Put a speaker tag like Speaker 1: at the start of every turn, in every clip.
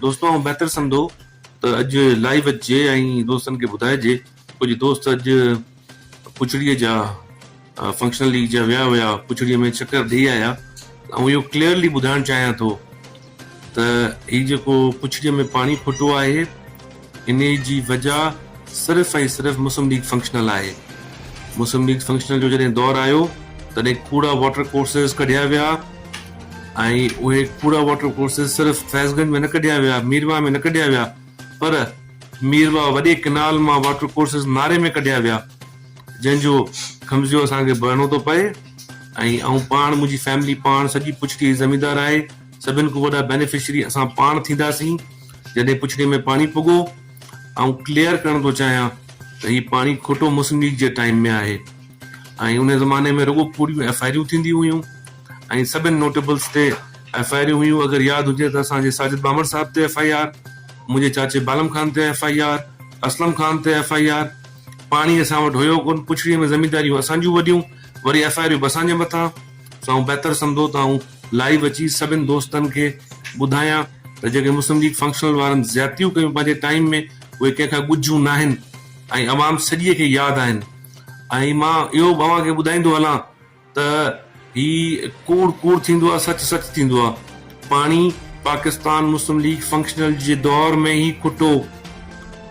Speaker 1: دوستو آئون بهتر سمجهندو ته اڄ لائيو اچجي ۽ دوستن کي ٻڌائجي ڪجهه دوست اڄ پڇڙي جا فنڪشنل ليگ جا ويا هيا پڇڙي ۾ چڪر ڏئي آيا ته آئون اهو ڪليئرلي ٻڌائڻ چاهيان ٿو ته هي جيڪو پڇڙي ۾ پاڻي ڦٽو آهي انهي جي وجه صرف ۽ صرف مسلم ليگ فنڪشنل آهي. مسلم ليگ فنڪشنل جو جڏهن دور آيو تڏهن ڪوڙا واٽر ڪورسز ڪڍيا ويا ۽ اهي ڪوڙا واٽر ڪورسز صرف فيض گنج ۾ نه ڪڍيا ويا، مير واهه ۾ نه ڪڍيا ويا پر مير واهه وڏي ڪئنال مان واٽر ڪورسز ناري ۾ ڪڍيا ويا جنهن جو خمزيو اسان کي ڀرڻو ٿو پئي ۽ آئون پاڻ منهنجي فيملي پاڻ سڄي پڇڙي زميندار آهي. سڀن کان وڏا بينيفشري اسان پاڻ ٿينداسين جڏهن پڇڙي ۾ پاڻي پڳو. آئون ڪليئر ڪرڻ ٿو چاهيان ته هي پاڻي کوٽو مسلم ليگ جي ٽائيم ۾ آهي ۽ ان زماني ۾ رڳو پوريون ايف آء آريون ٿينديون هيون ۽ سڀن نوٽيبلز تي ايف آء آريون هيون اگر ياد هجي ته اسان جي ساجد ٻامڙ صاحب تي ايف آء آر، منهنجي چاچي بالم خان تي F I R, Aslam Khan تي ايف آء آر. پاڻي اسان وٽ هيو ڪونه پڇڙي ۾ زمينداريون اسان جون وڏيون وري ايف آء آريون به اسان جي مٿان. سائون بهتر سمجهو ته آئون لائيو اچي سڀن دوستن کي ٻڌايان ته جيڪي مسلم ليگ فنڪشنل وارن زيادتيون ڪيون پنهنجي ٽائيم ۾ اهي ڪنهن کان ڳجهيون ناهن ۽ عوام سڄيء کي ياد آهن ۽ مان اهو به اوهان کي ٻڌائيندو هلان ته هي ڪوڙ ڪوڙ ٿيندو آهي سچ سچ ٿيندو آهي پاڻي پاڪستان مسلم ليگ فنڪشنل جي دور ۾ ئي کٽو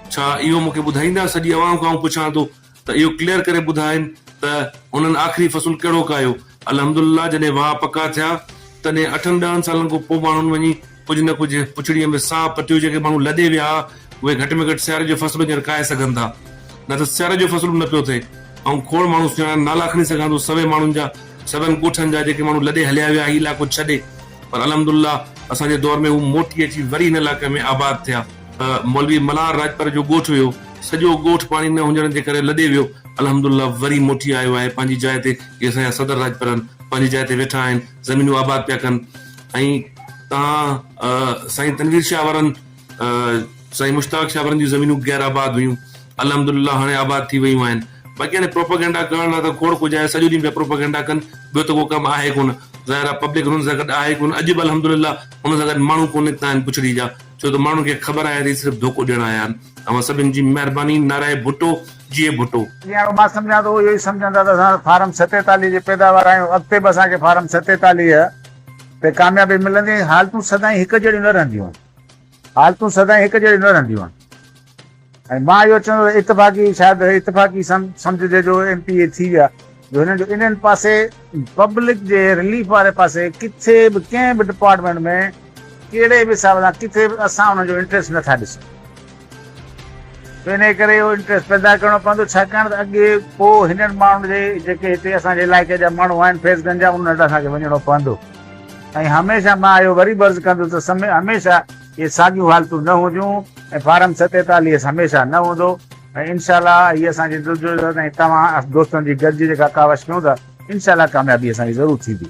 Speaker 1: ڇا اهو مون کي ٻڌائيندا سڄي عوام کان آئون پڇان ٿو ته اهو ڪليئر ڪري ٻڌائين ته هنن آخري فصل ڪهڙو ڪاهيو. الحمدلله جڏهن واهه پڪا ٿيا تڏهن اٺن ڏهن سالن کان پوء ماڻهن وڃي ڪجهه نه ڪجهه پڇڙيء ۾ ساهه پٽيو جيڪي ماڻهو لڏي ويا ها اهي گهٽ ۾ گهٽ سياري جو فصل هينئر ڪاهي سگهن ٿا نه ته سياري جو فصل به نه پيو ٿئي آئون کوڙ ماڻهو سڃاڻان نالا کڻي سگهان ٿو سوين ماڻهن جا سوين ڳوٺن جا جيڪي ماڻهو لڏي هليا ويا هي علائقو ڇڏي پر الحمدلله اسان جي دور ۾ هو موٽي اچي وري هن علائقي ۾ آباد ٿيا. مولوي ملهار راڄپر جو ڳوٺ ويو، سڄو ڳوٺ پاڻي نه هجڻ جي ڪري لڏي ويو، الحمد الله وري موٽي آيو آهي پنهنجي جاء تي، جي اسان جا صدر راڄپرن پنهنجي جاء تي ويٺا آهن، زمينون آباد پيا ڪن ۽ تان سائين تنوير شاهه وارن سائين مشتاق شاهه وارن جون زمينون غير آباد هيون، الحمد الله هاڻي آباد ٿي ويون آهن، باقي هاڻي پروپيگنڊا ڪرڻ لاء ته کوڙ ڪجهه آهي، سڄو ڏينهن پيا پروپيگنڊا ڪن، ٻيو ته ڪو ڪم آهي ڪونه، ظاهر آهي پبلڪ هنن سان گڏ آهي ڪونه، اڄ به الحمد الله هنن سان گڏ ماڻهو ڪو نڪتا آهن بڇڙي جا. ڇو ته ماڻهن کي خبر آهي ته هي صرف ڌوڪو ڏيڻ آيا آهن. اوهان سڀن جي مهرباني نارائي ڀٽو جيئي ڀٽو. جيئن مان سمجهان ٿو
Speaker 2: اهو ئي سمجهن ٿا ته اسان فارم ستيتاليهه جي پيداوار آهيون اڳتي به اسان کي فارم ستيتاليهه تي ڪاميابي ملندي حالتون سدائين هڪ جهڙيون نه رهنديون آهن حالتون سدائين هڪ جهڙيون نه رهنديون آهن. ۽ مان اهو چوندو ته اتفاقي شايد اتفاقي سمجهجي جو ايم پي اي ٿي ويا جو هنن جو انهن پاسي پبلڪ جي رليف واري پاسي ڪٿي به ڪنهن به ڊپارٽمينٽ ۾ ڪهڙي به حساب سان ڪٿي به اسان انهن جو انٽريسٽ نه ٿا ڏسون جو انهي ڪري اهو انٽريسٽ پيدا ڪرڻو پوندو ڇاڪاڻ ته اڳي پو هنن ماڻهن جي جيڪي هتي اسان جي علائقي جا ماڻهو آهن فيض گنج جا انهن وٽ اسان کي وڃڻو پوندو ۽ هميشه مان اهو وري به عرض ڪندس ته هميشه اهي ساڳيون حالتون نه هونديون ۽ فارم ستيتاليهه هميشه نه هوندو ۽ انشاء الله هي اسان جي جدوجهد ۽ توهان دوستن جي گڏجي جيڪا ڪاوش ڪيون ٿا انشاء الله ڪاميابي اسان جي ضرور ٿيندي.